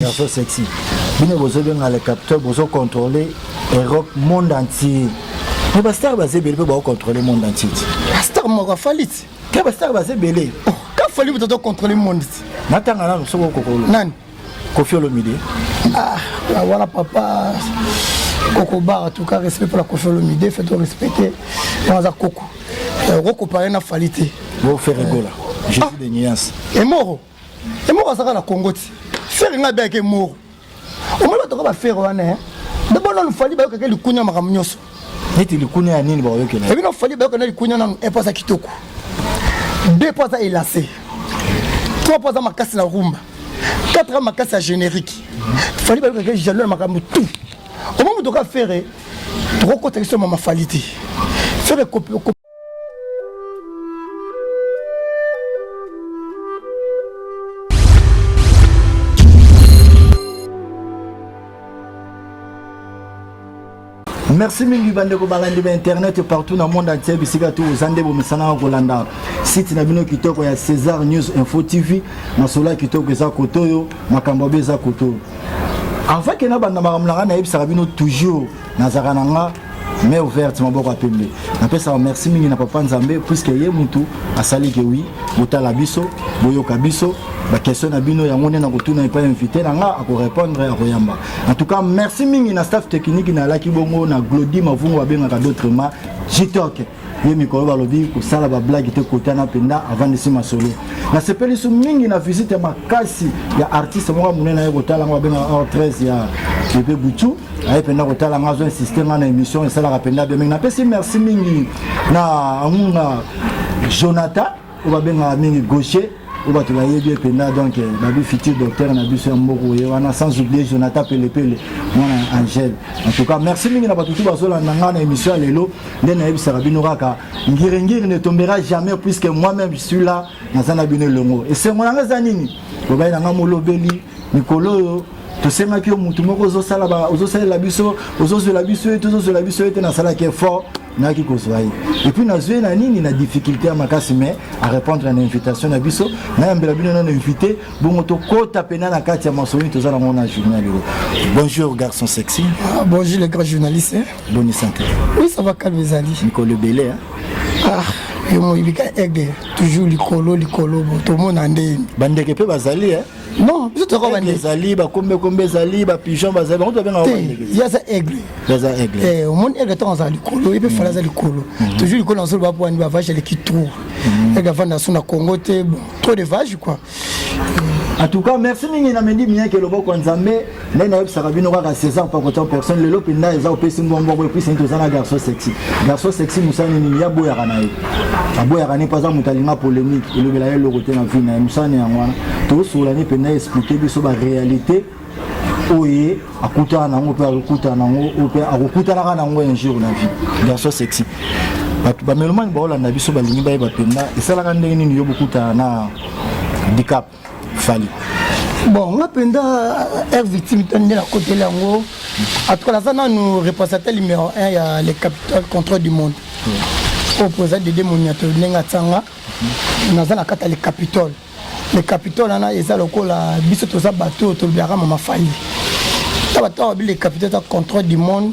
Garçon sexy. Bino bozo benga le capteur bozo contrôler Europe monde entier. Mais ba star baze bele ba contrôler monde entier. Ba star mo ka falit. Ke ba star baze bele. Oh, ka falit bo to contrôler monde. Natanga na soko kokolo. Nani? Kofi Olomide. Ah, ah voilà papa. Koko Bar, en tout cas, respect pour la Kofi Olomide, faites respecter. Dans la Koko. Euh, Roko Parena Falité. Bon, faire rigoler. Jésus ah. des nuances. Et Moro. emoko azaka na congo ti fere ngai abeyaka emoro omoni batoka bafere wana eh? dabona nufali bayokaka likunya makambo nyonso neti likunya ya nini bakoyokela ebi nufali bayoka na likunya nanu epo aza kitoko de po aza elase trois po aza makasi na rumba quatre a makasi ya générique fali bayokaka jalo na makambo tout omoni motoka fere tokokotaki so mama fali te fere merci mingi bandeko balandi ba internet partout na monde entier bisika tu oza nde bomesanaka kolanda site na bino kitoko ya césar news info tv masolo kitoko eza koto oyo makambo abe eza koto avant ke nabanda makambo na ngai nayebisaka bino toujours nazalaka na nga mais ouverte maboko ya pembe napesaka merci mingi na papa nzambe puiske ye mutu asali ke wi botala biso boyoka biso bakestion na bino yango nde nakotuna epai ya invité na nga akorépondre akoyamba en tout cas merci mingi na staff technique nalaki bongo na glodi mavungu babengaka d'autrement jitoke ye mikolo balobi kosala bablage te kotana mpenza avandisi masolo nasepeli so mingi na visite ya makasi ya artiste moko monene aye kotala yango babengaka or 13 ya pepe butu aye mpenza kotala nga azo insiste nga na émission esalaka mpenza bemenge napesi merci mingi na angunga jonathan oyo babengaka mingi gaucher oyo bato bayebi ye mpenza donc eh, babi futur docteur na biso ya mboku ye wana sans oublie jonathan pelepele mwana ya angele en tout cas merci mingi na bato tu bazolanda ngai na émission ya lelo nde nayebisaka bino kaka ngiringiri ne tombera jamais puisque moi même je suis là naza na bino elongo esengo na ngai eza nini lobai na ngai molobeli mikolo oyo tosengaki yo motu moko ozosalela biso ozozwela biso ye te ozozwela biso ye te nasalaki effort nayaki kozwa ye epuis nazwi ye na nini na difficulté ya makasi mais arépondre na invitation na biso nayambela bino nano invité bongo tokota mpena na kati ya masolo toza nango na journal oyo bonjour garçon sexy ah, bonjour le grand journaliste boni santé oui ça va calme ezali mikolo ebele ah yo moyibika aigle toujours likolo likolo tomona ndeni bandeke mpe bazali non biso tokoka bande ezali bakombe kombe ezali bapigeon bazali bango tobenga ye aza aigle aza aigle eh, omoni aigle ntango azala likolo ye mpe fala aza likolo mhm. toujours likolo na zolo bapo wani bavage aleki tour mhm. aigle avanda so na congo te bon trop de vage quoi en tout cas merci mingi na mendi miyake loboko ya nzambe nde nayebisaka bino kaka césar pakotian personne lelo mpenza eza opesi mbongbongo epuisi nini toza na garçon sexy garçon sexy mosala nini nini yaboyaka na ye aboyaka ne mpo aza moto alinga polémique elobela ye eloko te na vie na ye mosala na yango wana tosola ne mpenza explike biso baréalité oyo akutana nango mpe akokutana nango oyo mpe akokutanaka nango un jour na vie garçon sexy bato bamelomani baolanda biso balingi bayeba mpenza esalaka ndenge nini yo bokutana na dicap fali bon nga mpenza air euh, victime to nde nakoteli yango atuka naza nanu représentateur numéro 1 ya le capital contrôle du monde oyo mpoza dede moniato ndenge atanga naza na kati ya le capitole le capitole wana eza lokola biso toza bato oyo tolobelaka mama fali ta bato awa bile capitole ta contrôle du monde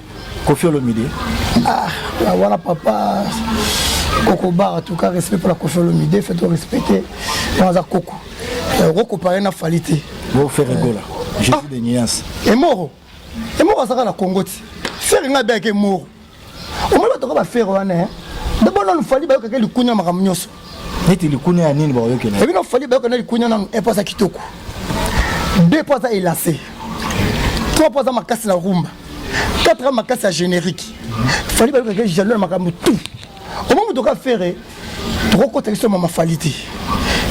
Koffi Olomide ah wana papa koko bar en tout cas respect pour la Koffi Olomide fait respecter wana za koko koko paré na falité bon faire gola euh, Jésus ah. de Nias et moro et moro azaka na Congo ti faire nga bien que moro omoni bato ka bafere wana dabona nufali bayokaka likunya makambo nyonso neti likunia ya nini bakoyokela ebino fali bayoka na likunia nanu epo aza kitoko deux po aza elase trois po aza makasi na rumba quatre aza makasi ya générique fali bayokaka jaloux na makambo tout omo moto oka fere tokokota biso mama fali te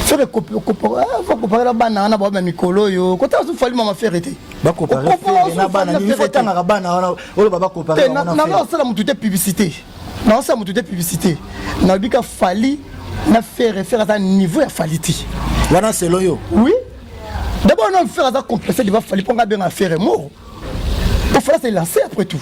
fere kokopakela bana wana baobe mikolo oyo kotala so fali mama fere te bakopakatangaka bana wana oyo babakopakate nalosala motu te publicité Naosala moto te publicité nalobi ka fali na fere fere aza niveau ya fali te wana selo yo oui d'abord na fere aza complexe deva fali mpo nga abenga fere moro ofala se lance après tout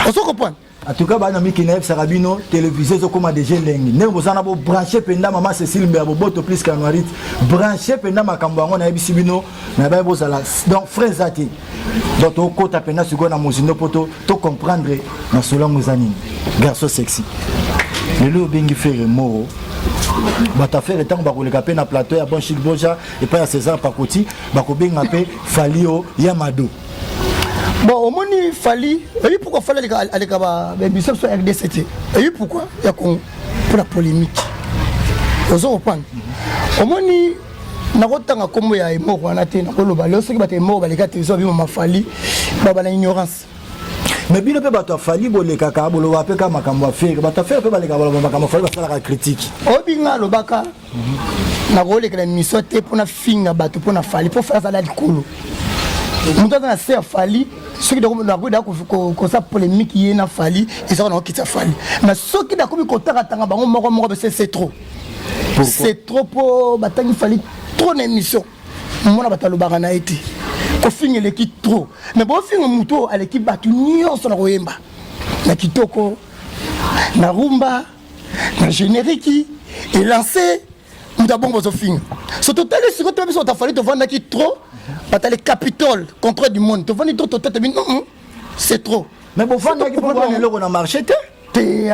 ozo comprendre en tout cas bana miki nayebisaka bino télévisé ezokóma déjà elengi ndenge boza na bobranche mpenza mama cécile mbeya boboto plus kanuarite branche mpenza makambo yango nayebisi bino mais baye bozala donc frais eza te donc tokota mpenza sikoyo na mozindo mpo tocomprendre na solo yango eza nini garçon sexy lelo oyo obengi fere moro bato afere ntango bakoleka mpe na plateau ya bonchik boja epai ya césar pakoti bakobenga mpe falio ya mado bon omoni fali eyi pourkoi fali aleka bamisa biso ya rdc te eyi pourkoi ya congo mpo na polémique ozo kopanga omoni nakotanga nkombo ya emoko wana te nakoloba leo soki bato emoko baleka te ezo bima mafali baba na ignorance mais bino mpe bato afali bolekaka boloba mpe kaka makambo afere bato afere mpe balekaka baloba makambo afali basalaka kritike obinga alobaka nakolekela miso te mpo nafinga bato mpo na fali mpo fali azala likolo moto aza na se ya fali soki nakoki da kosa polémique ye na fali ezaka nakokitisa fali mais soki nakomi kotakatanga bango moko moko bese se trop c'est trop po batangi fali trop na émission mona bato alobaka na ye te kofinga eleki trop mais bofinga moto oyo aleki bato nyonso na koyemba na kitoko na rumba na génériki elanse moto abongo bozofinga so totali siko toyebi so tafali tovandaki trop batali capitole contre du monde tovandi trop totata bino c'est trop mais bofandaki mpo bwana eloko na marché te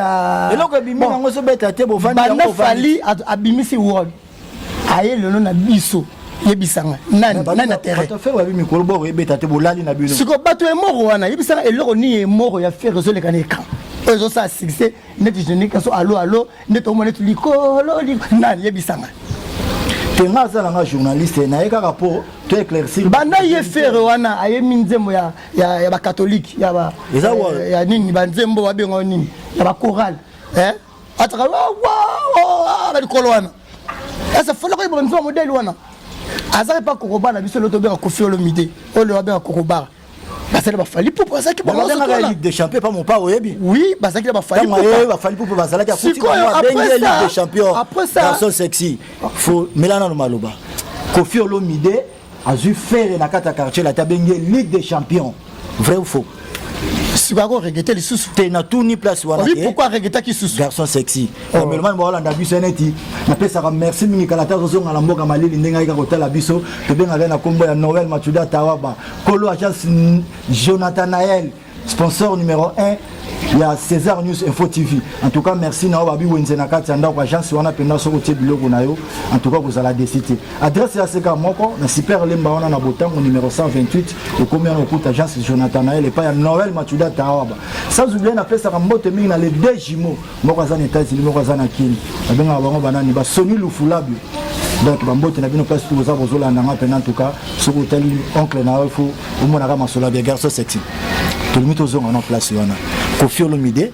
Ah. eloko ebimi yango ezobeta te bovandibanda fali abimisi wod aye lelo na biso yebisanga nani na terrainsikoyo bato emoko wana yebisanga eloko nini emoko ya fere ezoleka na ekan oyo ezosala succès neti genekaso alo alo neti omona neti likolo nani yebisanga te nga aza nanga journaliste naye kaka mpo to éclaircir banda ye fere wana ayemi nzembo ya ya, ya bakatolike ya, ba, ya, eh, ya nini banzembo babenga nini ya bakorale eh? ataka ah, balikolo wana esa fola koyeba nzwa modele wana azali mpa kokoba na biso loto obeka kofi olomide oyo lelo abeka kokobara basali bafali pupu azalaki ligue de champion pa mopa oyebi oui bazalaki na bafali pupu bafali pupu bazalaki akutikoyo après ça après ça garçon sexy faut melana no maloba kofi olomide azwi fere na kati ya quartier lati abengi ye ligue des champions vrai ou faux sikoyo akoregete lisusu te natuni place wana te pourquoi aregetaki lisusu garçon sexy bamelomani bakolanda biso neti napesaka merci mingi kala te azozonga na mboka malili ndenge ayika kotala biso tobengaka na nkombo ya noel machuda tawaba kolo agence jonathan nael sponsor numero 1 ya césar news info tv en tout cas merci na yo babi wenze na kati ya ndako agence wana mpenza soki otie biloko na yo en tout cas kozala desi te adresse ya seka moko na super lemba wana na botango numero 128 okomi wana okuta agence jonathanael epai ya noel machuda taawaba sans oublie napesaka mbote mingi na le deux jumeaux moko aza na etats unis moko aza na kini babengaka bango banani basoni lufulabio donc bambote na bino place toza bozolanda nga mpena ntuka soki otali oncle na yo fo omonaka masolo ya garçon sexy tolingi tozonga na place wana kofi olomide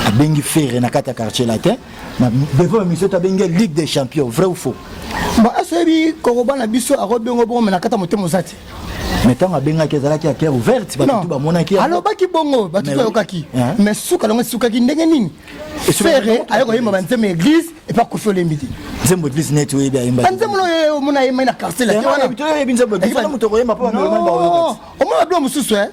abengi ferre na kati ya quartier latin na devant émission tabengi ligue des champions vrai ou faux ba asoyebi kokoba na biso akobengo bongo me na kata motema oza te mais ntango abengaki ezalaki ya cœur ouverte bato tu bamonaki alobaki bongo bato tu bayokaki mais suka nango esukaki ndenge nini fere aye koyemba banzembo ya église epa kofi olembi te nzembo église neti oyebi ayemba banzembo oyo omona ayembai na quartier laomona babilo mosusu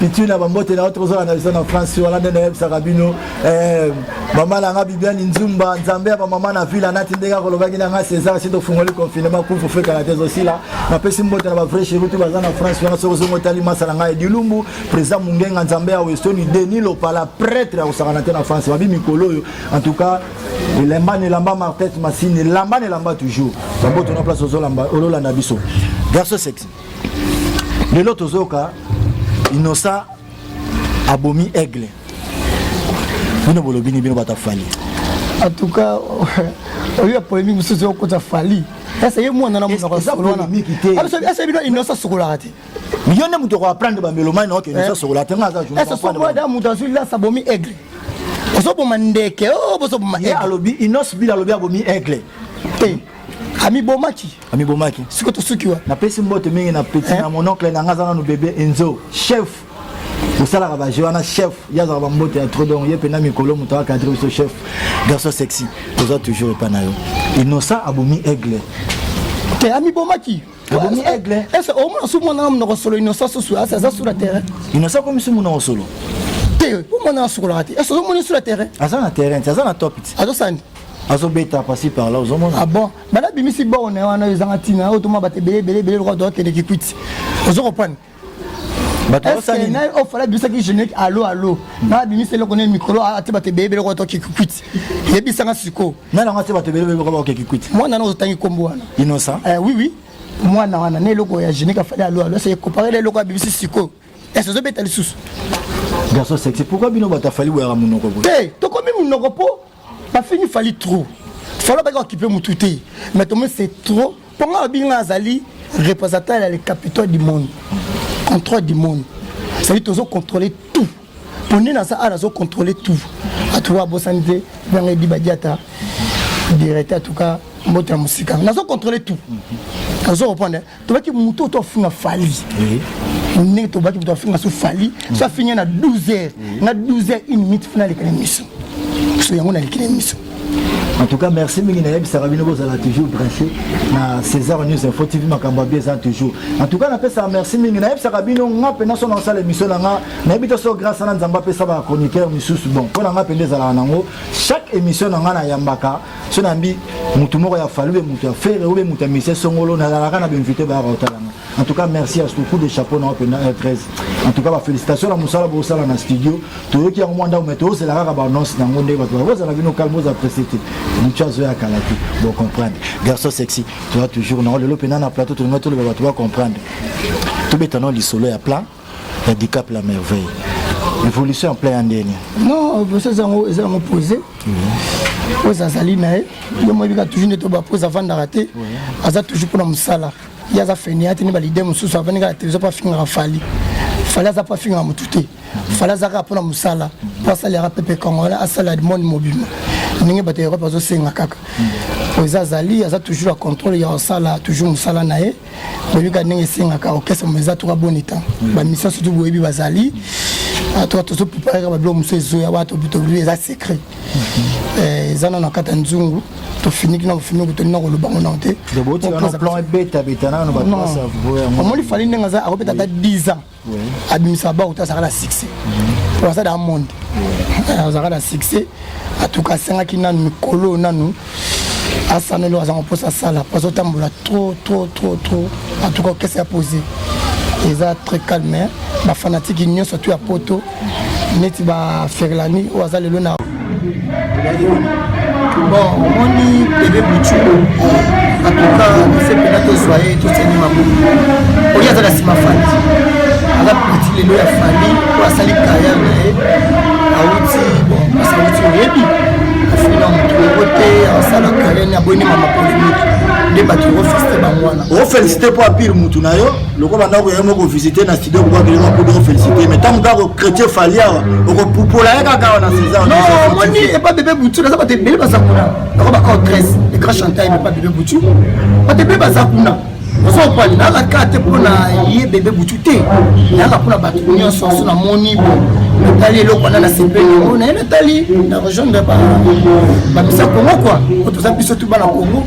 pitu na bambote na yo tokozala na biso na france wana nde nayebisaka bino eh, mama na nga bibiani nzumba nzambe ya bamama na vila nati ndenge akolobaki na nga césar si tofungoli confinement kufu fekana te ezosila napesi mbote na bavrai cheri tu baza na france wana soki ozongo otali masa na ngai edilumbu président mungenga nzambe ya westoni deni lopala prêtre ya kosakana te na france babi mikolo oyo en tout cas elamba na elamba martete masini elamba na elamba toujours bambote na place ololanda biso garçon sexy lelo tozoyoka inosa abomi aigle bino bolobi ni bino bato afali en tout cas oyo ya polémique mosusu okota fali ese ye mwana na monoko asolwanaese bino inosa sokolaka te yo nde moto okoaprendre bamelomani oke inosa sokola te ngai aza sokolada moto azwi lasa abomi aigle ozoboma ndeke bozoboma alobi inos bila alobi abomi aigle te amibomaki amibomaki siko tosuki wa napesi mbote mingi na petit na mon oncle na nga aza nanu bebe enzo chef osalaka bajeu wana chef ye azalaka bambote ya tro donc ye mpena mikolo moto akadre biso chef garçon sexy toza toujours epa na yo innocent abomi aigle te amibomaki abomi aigle ese omona su mwana na monoko solo innocent susu asi aza sur la terrain innocent akomi su monoko solo te omwana asukolaka te ese ozomoni sur la terrain aza na terrain te aza na top te azosani azobeta pasi par là ozomona ah bon bana bimisi borne wana oyo ezanga ntina oyo toma bato ebele ebele ebele lokola tokende kikwiti ozo kopane ofala bimisaki générique alo alo na bimisa eloko nini mikolo ate bato ebele ebele lokola toke kikwiti yebisanga sikoyo nani yango ate bato ebele ebele lokola baoke kikwiti mwana yango ozotangi nkombo wana innocent eh, oui oui mwana wana na eloko ya générique afali alo alo ese comparele eloko abimisi sikoyo ese ozobeta lisusu garçon sexy pourquoi bino bato afali boyaka monoko boye te tokomi monoko mpo Bafingi fali trop. Falo baki okipe mutu te. Mais tomoni c'est trop. Ponga babingi nga azali représentant ya le capitaine du monde. Contrôle du monde. C'est-à-dire tozo contrôler tout. Poni na sa ala zo contrôler tout. Atuwa bosani te. Banga di badiata. Directeur en tout cas mbote ya mosika nazo contrôle tout nazo reprendre tobaki moto oyo toafinga fali ndenge tobaki moto afinga so fali so afinga na 12 heures na 12 heures une minute fina alekana miso so yango nalekana miso en tout cas merci mingi nayebisaka bino bozala toujours branché na césar news info tv makambo ya bieza toujours en tout cas napesaka merci mingi nayebisaka bino nga mpena so naosala émission na nga nayebi te so grâce na nzambe apesa bachroniqueur misusu bon mpo na nga mpende ezalaka nango chaque émission na nga nayambaka so nambi motu moko ya falu be motu ya fere obe motu ya misie songolo nazalaka na bainvité bayaka kotalanga en tout cas merci à ce coup de chapeau na openza r13 en tout cas bafélicitation na mosala bosala na studio toyoki yango mwa ndako mai tozela kaka baannonce na yango ndenge bato bakozala bino calme boza presse te motu azoya kala te bocomprendre garçon sexy toza toujours nango lelo mpenza na plateau tolingai toloba bato bacomprendre tobeta nao lisolo ya plan ya dicap la merveille évolution ya plan ya ndeni non évolution ezango ezango posé pose azali na ye yo moyebi kaka toujours nde to bapose avandaka te aza toujours mpona mosala ye aza fenia te nde balide mosusu avandi kaka televizio mpo afingaka fali fali aza mpo afingaka motu te fali aza kaka mpona mosala mpo asalelaka pepe congolais asalela monde mobima ndenge bato ya europe azosenga kaka oyo eza azali aza toujours ya contrôle ya kosala toujours mosala na ye boyebika ndenge esengaka orchestre mo eza toka boni temps mm. bamisia surtout boyebi bazali ah, toka tozo preparaka babiloko mosusu ezoya wana tobi eza secret mm-hmm. eh, eza nano na kati ya nzungu tofiniki na bofiniki toli na koloba ngo nao te omoni fali ndenge aza akobeta ata 10 ans abimisa ba uta azalaka na succès po aza dans monde azalaka na succès atuka asengaki nanu mikolo nanu asanelo azanga mposa asala po azotambola trop trop trop trop atuka okese ya pose eza très calme bafanatike nyonso tu ya poto neti ba ferlani oyo aza lelo na bon omoni bebe butu atuka ese mpena tozwa ye totiani maboko oyo aza na nsima fandi aza peti lelo ya fandi oyo asali kariere na ye awuti bon parce awuti oyebi afina moto yango te asala kariere aboyi ne mama polemiki nde bato ofeste bango wana ofeste mpo apire motu na yo lokola ndako yaye moko visite na studio kobakelema kudo ofélicité mais ntango kaka chrétien fali awa okopupola ye kaka awa na césaromoni epa bebe butu naza bato ebele baza kuna nako bakao 13 le grand chanteur epa bebe butu bato ebele baza kuna ozopali nayaka kaka te mpo na ye bebe butu te nayaka mpo na bato nyonso oso namoni bo natali eloko wana nasepeli yango naye natali na rejoindre bamisa kongo kua oyo toza biso tu bana kongo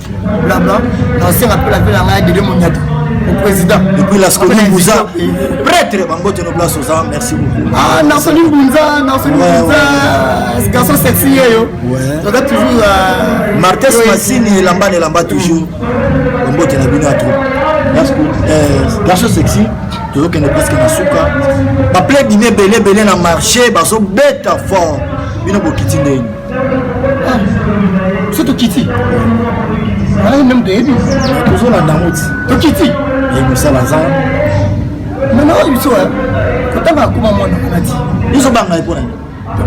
blabla nasenga mpe lapele na ngai ya dede monyata au président et puis la scoline bouza prêtre bango tono place oza merci beaucoup ah na soni bunza na soni bunza garçon sexy yeyo toza toujours euh, martes masini elamba na elamba toujours bambote na bino ya trop euh, garçon sexy tozokende presque na suka baplaidine ebele ebele na marché bazobeta fort bino bokiti ndenge so tokiti alaki meme toyebi tozolanda yango ti tokiti ekosala za mama oyo biso kotanga akoma mwana wana ti biso banga epona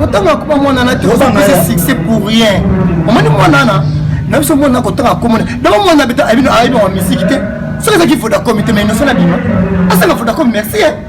kotanga akoma mwana na te ozangisa succès pour rien omoni mwana na na biso mwana kotanga akomona dama mwana beta ayebino ayebino wa misiki te soki ezalaki vodacom te mais inoso na bima asala vodacom merci eh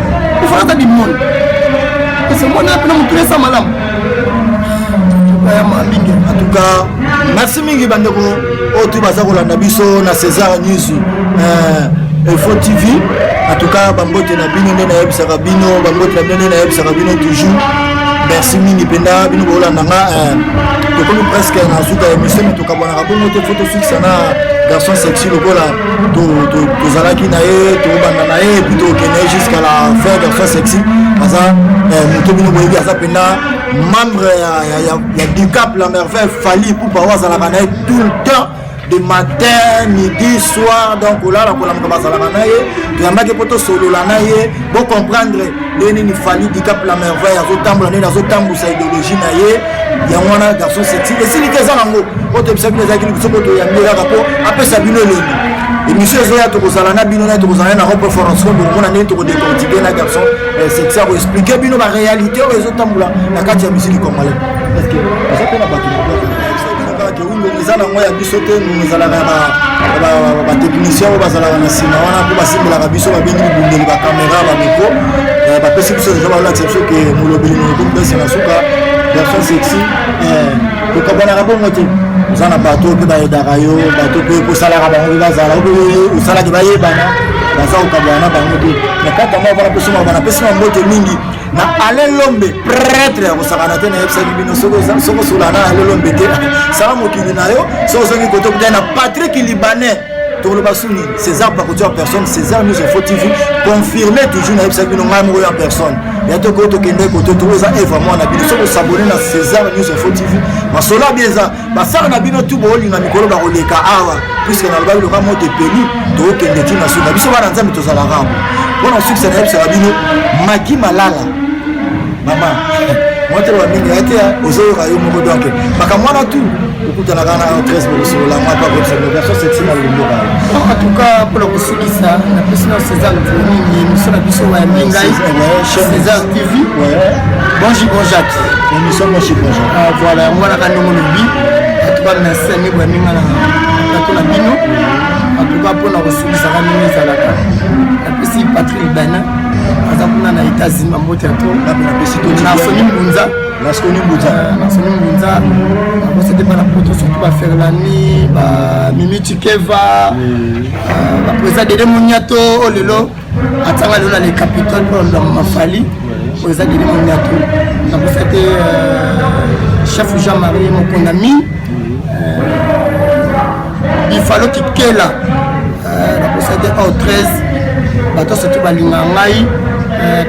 ifata bimoni ese mwana apena motuna esa malamu ayama mingi en tout cas merci mingi bandeko oyo tu baza kolanda biso na césar news euh, info tv en tout cas bambote na bino nde nayebisaka bino bambote na bino nde nayebisaka bino toujours merci mingi mpenza bino bokolanda nga euh, tokomi presque na suka ya émission me tokabwanaka bongo te fo tosukisa na garçon sexy lokola tozalaki na ye tobanda na ye epuis tokende ye jusqu'à la fin version sexy aza eh, moto bino boyebi aza mpenza membre ya dicap la merveille fali pupa oyo azalaka na ye tout le temps de matin midi soir donc olala kolamuka bazalaka na ye toyambaki mpo tosolola na ye bocomprendre ndenge nini fali dicap la merveille azotambola ndenge azotambusa ideologie na ye yango wana garçon seti esiliki eza nango oyo toyebisa bino ezalaki libiso mpo toyambi kaka mpo apesa bino elengi émission ezoya tokozala na bino na tokozala na rope forence mpo bokomona ndenge tokodecortike na garçon eh, seti akoexplike bino baréalité oyo ezotambola na kati ya musiki congolais Ngongo eza nango ya biso te, ngongo ezalaka ya batechnicien oyo bazalaka na nsima wana mpo basimbelaka biso babengi bibundeli bakamera bamiko eh, bapesi biso deja balakisa biso ke molobeli mokomi pesi na suka version sexy eh, tokabanaka bongo te oza na bato mpe bayedaka yo bato mpe kosalaka bango mpe bazala ope osalaki bayebana baza kokabwana bango te na kaka mwa wana mpe somaka bana mpe sima mbote mingi na alain lombe pretre ya kosakana te nayebisaki bino soki osola na alain lombe te sala mokili na yo soki ozongi kote okutani na patrik libanais toloba su nini césar bakotia personne césar nous info tv confirme toujours nayebisaki bino ngai moko ya personne ya tokoki tokende kote toko eza evre mwana bino soki osabone na césar news info tv masolo abi eza bafere na bino tu bolinga mikolo bakoleka awa puiske naloba biloka moto epeli tokokende ti na suka biso bana nzambe tozalaka yango mpo na sukisa nayebisaka bino maki malala mama mwateloba mingi ya te ozoyoka yo moko donk makambo wana tu okutanaka na tres bokosolola mwa mpe akotisaversion sexima lomboka en tout cas mpo na kosukisa na pesi na césar mingi miso na biso wayambi ngai césar tv bonjour bon jacques emission mo suppose ah voilà yango wana ka ndongo lobi atuka merci ami bwa minga na bato na bino atuka mpona kosukisaka ndenge ezalaka napesi patrick bana aza kuna na états-unis bambote ya to nasoni mbunza nasoni mbunza nasoni mbunza nakosete bana poto surtout baferlani bamimi chikeva baprésa dede moniato o oh lelo atanga lelo na le capitole mpo na ndambo mafali oyo eza kili monyato nakosa te euh, chef jean marie mokondami bifalo euh, kikela euh, nakosa te au 13 bato soki balinga ngai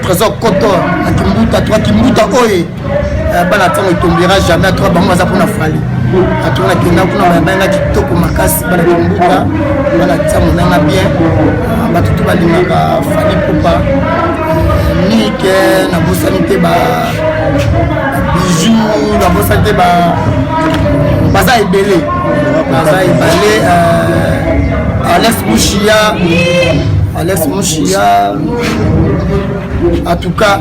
trésor koto akimbuta to akimbuta oyo eh, bana ntango etombera jamais atoka bango baza mpona fali atona kenda kuna bayabanga kitoko makasi bana kimbuta bana ntango nanga bien ah, bato to balingaka fali popa eh, mike nabosani te ba bijou nabosani te ba baza ebele baza ebale eh, alex mushia alex mushia en tout cas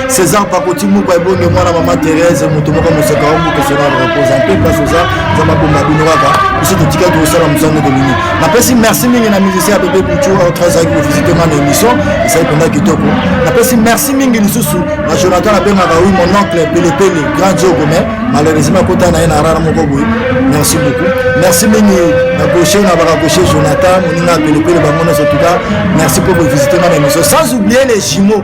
César Pakoti Mukwa Ebonge mwana mama Thérèse moto moko moseka wa mboka sona repose en paix place oza za mabomba bino kaka biso totika tosala mosala ndeko bino napesi merci mingi na musicien ya bebe buchu autre azalaki kovisite nga na émission ezali mpenza kitoko napesi merci mingi lisusu na jonathan abengaka oui mon oncle pelepele grand jogo mais malheureusement akota na ye na rara moko boye merci beaucoup merci mingi na gauche na baka gauche jonathan moninga pelepele bango nyonso tuka merci mpo kovisite nga na émission sans oublier les jumeaux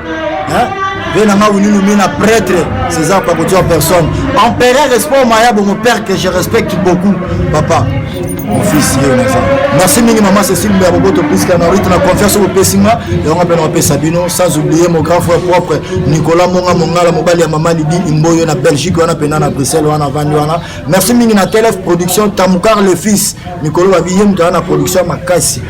hein ve na nga winunu mina prêtre césar pakoti en personne empereur respect maya bongo père que je respecte beaucoup papa mon fils ye naza merci mingi mama cécile mbeya boboto puiska na rite na confiance oyo opesi nga yango mpe na opesa bino sans oublier mon grand frère propre nicolas monga mongala mobali ya mama libi imboyo na belgique wana mpena na bruxelles wana avandi wana merci mingi na tlf production tamukar le fils mikolo babiye moto aza na production makasi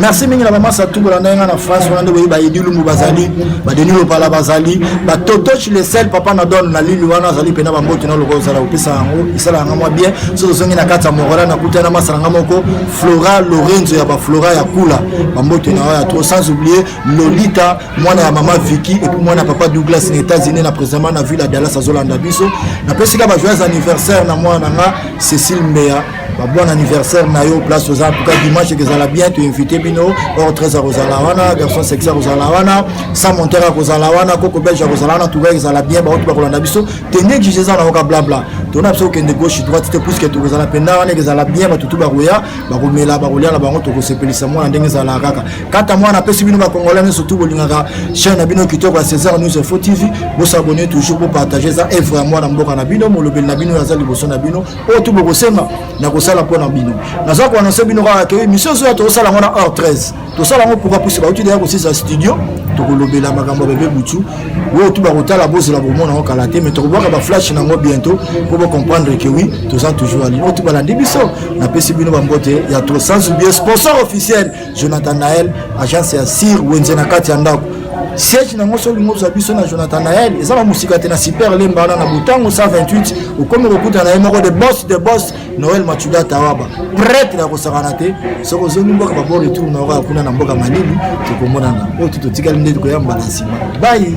merci mingi na bamasa tu bolanda nga na france wana nde boyebi baedi lumbu bazali badeni lopala bazali batotochi lesel papa na don na lili wana azali mpena bamboto na lokola ozala kopesa yango esala yanga mwa bien so tozongi na kati ya morola nakuta na masa na nga moko flora lorenzo ya baflora ya kula bamboto na yo ya trop sans oublier lolita mwana ya mama viki epuis mwana ya papa douglas na états-unis na présentement na ville ya dallas azolanda biso napesika bajoyeux anniversaire na mwana na nga cécile mbeya ba bon anniversaire na yo place oza en tout cas dimanche ekozala bien to invite bino or très akozala wana garçon sexy akozala wana sans monteur akozala wana koko belge akozala wana tout cas ekozala bien baoki bakolanda biso tende exige eza na yoka blabla tona biso kokende gauche droite te puisque tokozala mpenda wana ekozala bien bato tu bakoya bakomela bakolia na bango tokosepelisa mwana ndenge ezalaka kaka kata mwana apesi bino bakongolais nyonso tu bolingaka chaine na bino kitoko ya césar news info tv bosabone toujours bopartage eza evre ya mwana mboka na bino molobeli na bino oyo aza liboso na bino oyo tu bokosenga nakosala mpo na bino naza koanonse bino kaka ke émission ezoya tokosala yango na heure 13 tosala yango pourka pusi bauti deya kosisa studio tokolobela makambo ya bebe butu oyo tu bakotala bozela komona yango kala te mai tokobwaka baflashe na yango bientôt mpo bocomprendre ke wi toza toujours alini oyo tu balandi biso napesi bino bambote ya to sans oublie sponsor officiel Jonathan Nael agence ya Sir Wenze na kati ya ndako siège na yango soki ngobza biso na Jonathan Nael eza na mosika te na super lemba wana na botango 128 okomi kokuta na ye moko de boss de boss Noël Machuda Tawaba prêtre ya kosakana te soki ozongi mboka babo retour na okoya kuna na mboka Malili tokomonana oyo tu totikali nde tokoya mbala nsima bayi